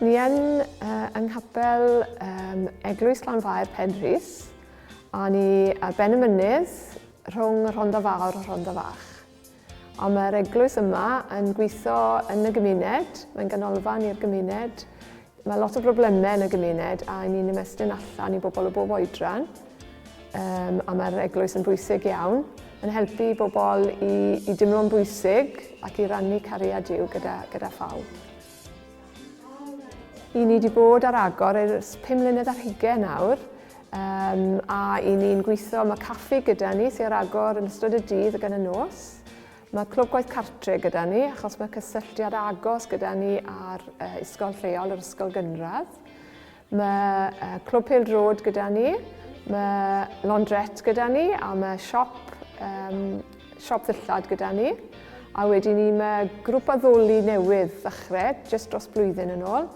Ni yn uh, yng nghapel um, Eglwys Glanfair Penrhys, a ni ar ben y mynydd rhwng Rhondda Fawr a Rhondda Fach. Ond mae'r eglwys yma yn gweithio yn y gymuned, mae'n ganolfan i'r gymuned. Mae lot o broblemau yn y gymuned a ni'n ymestyn allan i bobl o bob oedran. Um, a mae'r eglwys yn bwysig iawn, yn helpu bobl i, i dimlo'n bwysig ac i rannu cariad Dyw gyda, gyda phawb. I ni wedi bod ar agor ers 5 mlynedd ar hugain nawr, um, a i ni'n gweithio, mae caffi gyda ni sy'n ar agor yn ystod y dydd gan y nos. Mae clwb gwaith cartre gyda ni, achos mae cysylltiad agos gyda ni ar uh, ysgol lleol, yr ysgol gynradd. Mae Clwb Pêl Drod gyda ni, mae Laundrette gyda ni a mae siop, um, siop ddillad gyda ni. A wedyn ni mae grŵp addoli newydd ddechrau, jyst dros blwyddyn yn ôl.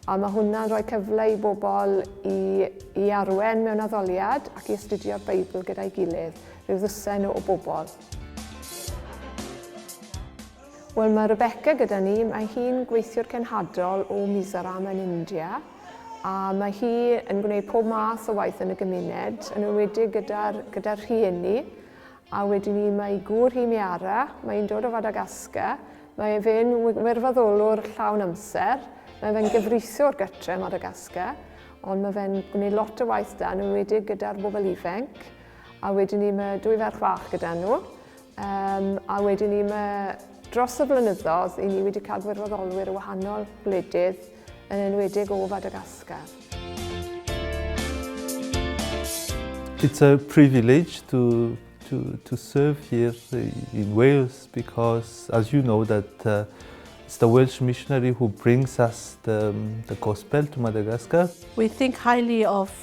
A mae hwnna'n rhoi cyfle i bobl i, i arwen mewn addoliad ac i astudio'r Beibl gyda'i gilydd, rhyw ddwsen o, o bobl. Wel, mae Rebecca gyda ni. Mae hi'n gweithiwr cenhadol o Mizoram yn India, a mae hi yn gwneud pob math o waith yn y gymuned, yn enwedig gyda'r gyda rhieni. A wedyn ni, mae ei gŵr hi, Miara, mae hi'n dod o Fadagascar. Mae fe'n wirfoddolwr llawn amser, mae fe'n gyfreithiwr gytre ym Madagascar, ond mae fe'n gwneud lot o waith da, yn enwedig gyda'r bobl ifanc. A wedyn ni, mae dwy ferch fach gyda nhw. Um, a wedyn ni, mae dros y blynyddoedd, i ni wedi cael gwirfoddolwyr o wahanol wledydd, yn enwedig o Fadagascar. It's a privilege to, to, to serve here in Wales because, as you know, that uh, it's the Welsh missionary who brings us the, um, the gospel to Madagascar. We think highly of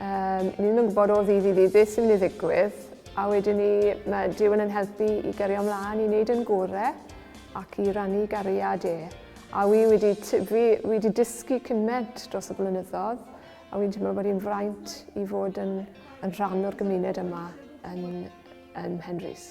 Um, ni ddim yn gwybod o ddydd i ddydd beth sy'n mynd i ddigwydd, a wedyn ni mae Dyw yn helpu i gario ymlaen i wneud yn gore ac i rannu gariad e. A wi wedi, fi, wedi dysgu cymaint dros y blynyddoedd, a wy'n teimlo bod hi'n fraint i fod yn, yn rhan o'r gymuned yma yn, yn Henrys.